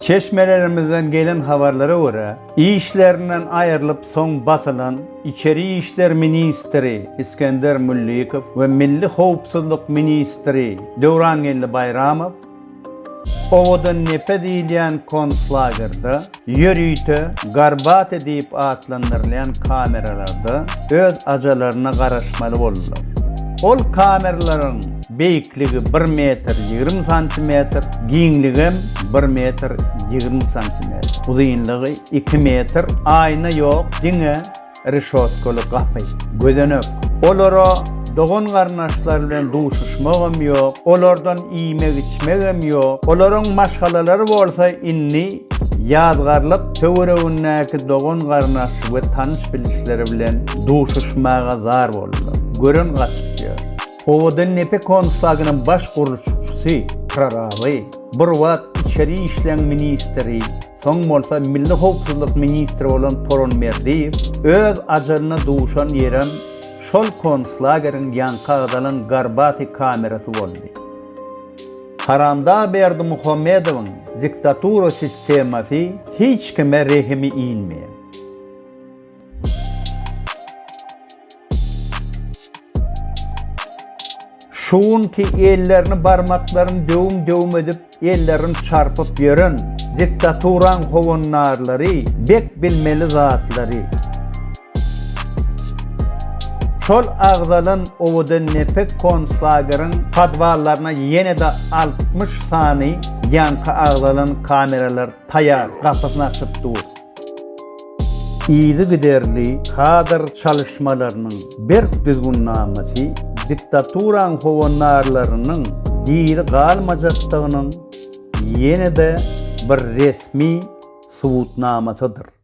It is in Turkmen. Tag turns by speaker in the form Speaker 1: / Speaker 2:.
Speaker 1: Çeşmelerimizden gelen habarlara görä, işlerinden aýrylyp soň basylan içeri işler ministri Isgender Müllikow we milli howpsuzlyk ministri Döwrangeldi Baýramow Owadandepe diýilýän konslagerda ýörite Garbate diýip atlandyrylýan kameralarda öz ajalaryna garaşmaly boldular. Ol kameralaryň beýik Ýüklügi bir metr ýigrimi santimetr, giňligem bir metr ýigrimi santimetr, uzynlygy iki metr, aýna ýok, diňe reşotkaly gapy, gözenek. Olara dogan-garyndaşlar bilen duşuşmagam ýok, olardan iýmek-içmegem ýok. Olaryň maşgalalary bolsa indi ýazgarlyk töweregindäki dogan-garyndaş we tanyş-bilişleri bilen duşuşmaga zar boldular. Gören gaçyp ýör. Owadan nepe konslagynyň baş gurluşykçysy Pyraly, bir wagt içeri işleriň ministri, soň bolsa milli howpsuzlyk ministri bolan Poronberdiýew öz ajalyna duşan ýerim şol konslageriň ýaňky agzalan Garbati kamerasy boldy. Haramdag Berdimuhamedowyň diktatura sistemasy hiç kime rehimi inmeýär. Şu günki ellerini barmaklaryny döwüm-döwüm edip, ellerini çarpyp ýören diktaturaň howandarlary bek bilmeli zatlary. Şol agzalan owadan nepek konslageriň podwallaryna ýene-de altmyş sany ýaňky agzalan kameralar Taýar, gapysyny açyp dur. Yzygiderli kadr çalyşmalarynyň berk düzgünnamasy diktaturaň howandarlarynyň diri galmajakdygynyň ýene-de bir resmi subutnamasydyr.